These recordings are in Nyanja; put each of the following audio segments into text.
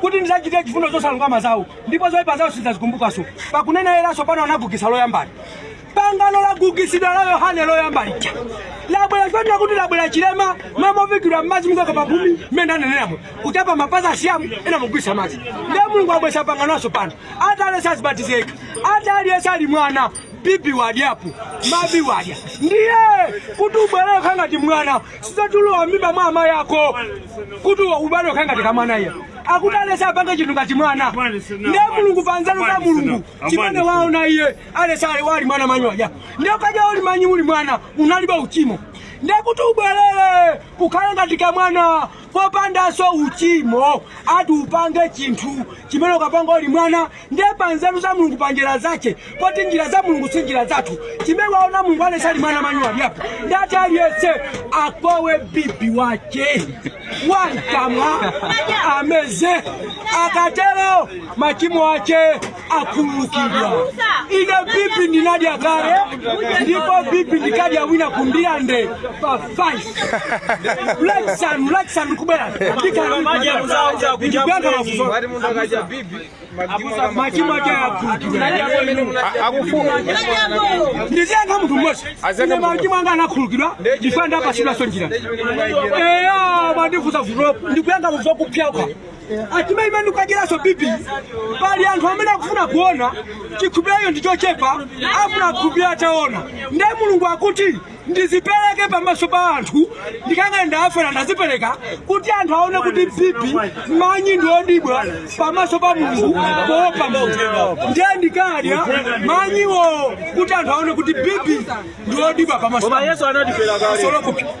kuti ndizachitire chifundo zosalungama zawo ndipo zoyipa zawo sindizazikumbukanso pakunena latsopano anagugitsa loyambali pangano lagugitsidwa la yohane loyamba lija labwera chonena kuti labwera chilema mumavikidwa mmadzi mukaka pagumi mmene ananenamo kuchapa mapazi Asilamu ena mugwitsa madzi ndiye mulungu wabweretsa pangano latsopano ati aliyense azibatizeka ati aliyense ali mwana bibi wadyapo manyi wadya ndiye kuti ubwerere ukhale ngati mwana sizatulowa mimba mwa amayi ako kuti ubwerere ukhale ngati kamwana iye akuti aliyense apange chinthu ngati mwana ndiye mulungu pa nzeru za mulungu chimene waona iye aliyense ali ali mwana manyi wadya ndiye ukaja uli manyi uli mwana unalibe uchimo ndiye kuti ubwerere ukhale ngati kamwana popandanso uchimo ati upange chinthu chimene unkapanga uli mwana ndiye pa nzeru za mulungu pa njira zace poti njira za mulungu si njira zathu chimene waona mulungu aliyense ali mwana manyi wadyapo ndati aliyense akome bibi wace wamkamwa ameze akatero machimo ace akhululukidwa ine bibi ndinadya kale ndipo bibi ndikadya wina kumbira nde pa 5 lachisanu lachisanu kubwera ndikalakuyankha mafuso machimo ake akhululukidwa ndiziyankha munthu mmodzi ine machimo anga anakhululukidwa ndisanapatsidwenso njira eya mwandifunsa vulopo ndikuyankha muzokuphyaukha Chimene ndikukadyeranso bibi pali anthu amene akufuna kuona chikhulupiriro chawo ndi chochepa afuna akhulupirire ataona nde mulungu akuti ndizipereke pamaso pa anthu ndikangani ndaafera ndazipereka kuti anthu aone kuti bibi manyi ndi odyedwa pamaso pa mulungu poopa mulungu ndiye ndikadya manyiwo kuti anthu aone kuti bibi ndi odyedwa pamaso pa Koma Yesu anatifera kale. Mulungu.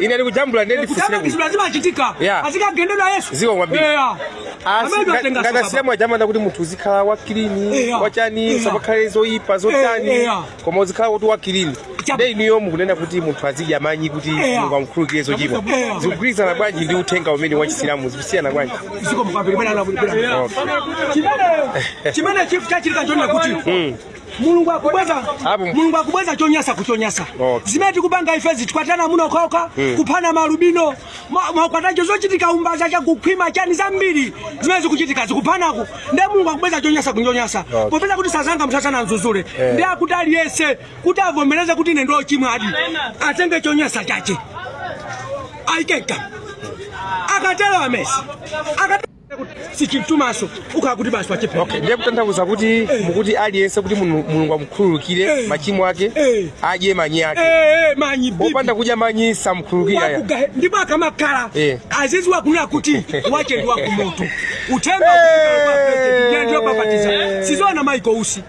ine ndikujambula ndiye ndifunsire kutamba kuti kizibula zimachitika Yeah. azikagendedwa yesu Ziko kwambiri. Yeah. Amene Asi- twatenga ngati sokaba. asilamu aja amanena kuti munthu uzikhala wakilini Eya. wachani Eya. pasakhale zoyipa zotani Eya. koma uzikhala kuti wakilini Chabu. nde inuyo mukunena kuti munthu azidya manyi kuti Eya. mulungu amkhululukire zochimwa Eya. zikugwirizana bwanji ndi uthenga umene wa chisilamu zikusiyana bwanji ziko mukapiri bwana anakulipira Okay. chimene chimene chifu chachitika chonena kuti mulungu akubweza Apo. mulungu akubweza chonyasa kuchonyasa Okay. zimene tikupanga ife zokwatana amuna okhaokha Mm. kuphana maalubino ma- makwatacho zochitika umbanda chakukhwima chani zambiri zimene zikuchitika zakuphanaku nde mulungu akubweza chonyasa kuchonyasa Okay. popeza kuti sazanga msasana mzuzule Eh. ndiye akuti aliyense kuti avomereze kuti ine ndochimwadi atenge chonyasa chache aike mkamwa akatero ameze akatero sichimtumaso ukhala kuti basi wachepa OK ndiye kutanthauza kuti mukuti aliyense kuti Mulungu Mulungu amukhululukire Eh. machimo ake Eh. adye manyi ake Eh, eh, manyi bibi. opanda kudya manyi samkhululukira ya Wakuga- ndipo akamakhala Eh. aziziwa kunena kuti wake ndi wakumoto uthenga Eh. ndiye babatiza sizona maiko usi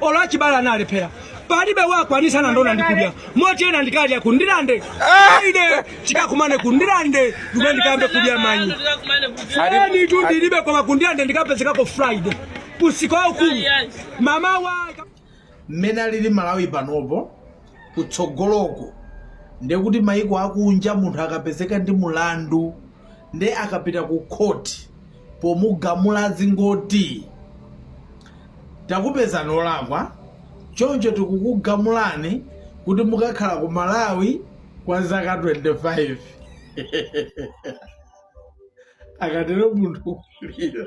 olo achibala analephera palibe wakwanitsa na ndowa ndikudya moti ena ndikadya kundilande ine ah! tikakumane kundilande kumene ndikayambe kudya manyi anutu ndilibe koma kundilande ndikapezekako friday usiku waukulu mmawa mmene alili malawi panopo kutsogoloko ndekuti maiko akunja munthu akapezeka ndi mulandu nde akapita ku khoti Pomugamula azingoti, Takupezani olakwa, choncho tikukugamulani kuti mukakhala ku Malawi kwa zaka 25. Akatero munthu kulira.